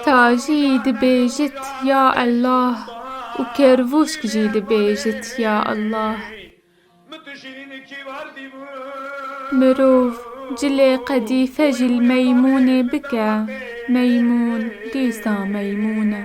Tajî dibêjit ya Ellah û Kervûşk jî dibêjit ya Ellah. Mirov cilê qedîfe jî li meymûnê bike, meymûn dîsa meymûn e.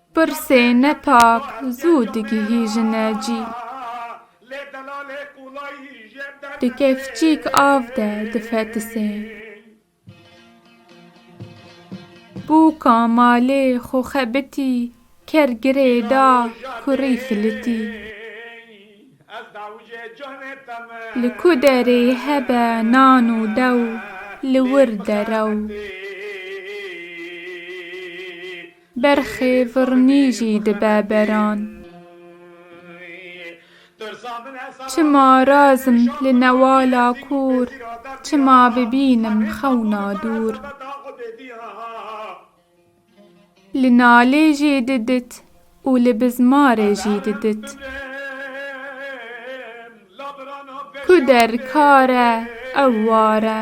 Pirsê nepak zû digihîjine cî. Di kevçîk av de difetisê. Bûka malê xo xebitî ker girê da kurî filitî. Li ku derê hebe nan û dew li wir derew. Berxê virnî jî dibe beran. Çima razim li newala kûr. Çima bibînim xewna dûr. Li nalê jî didit û li bizmarê jî didit. Ku der kar e ew war e.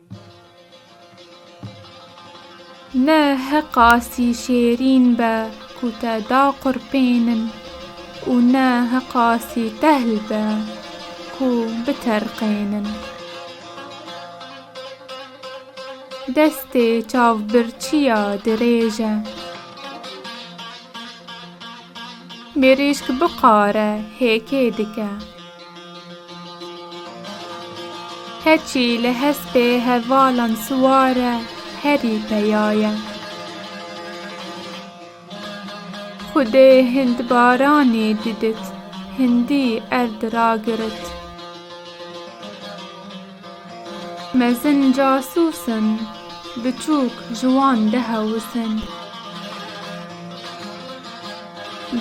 Ne heqa sî şêrîn be ku te da qurpênin û ne heqa sî tehl be ku biterqênin. Destê çavbirçiya dirêj e. Mirîşk biqare hêkê dike. Keçî li hespê hevalan siwar e, herî peya ye. Xwedê hindbaranê didit, hindî erd ragirit. Mezin casûs in, biçûk ji wan dihewis in.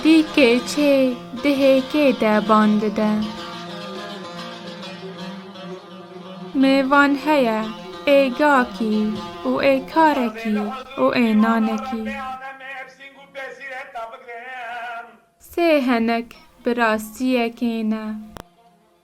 Dî kêçê dihê kê de ban dide. Mêvan heye ê gakî û ê karekî û ê nanekî. Sê henek bi rastiyekê ne.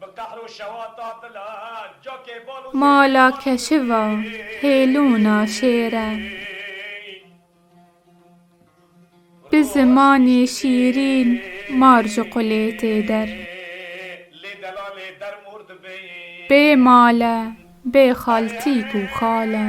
Bi qehr û şewa tatile cakê bal û zêrê Mala keşiva hêlûna şêr e. Bi zimanê şîrîn mar ji qulê tê der. Lê delalê der mor dibê. Bê mal e, bê xaltîk û xal e.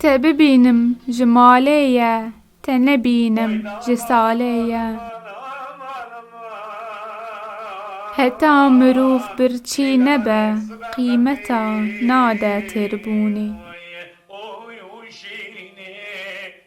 Te bibînim ji malê ye. Te nebînim ji salê ye. Heta mirov birçî nebe qîmeta nade têrbûnê.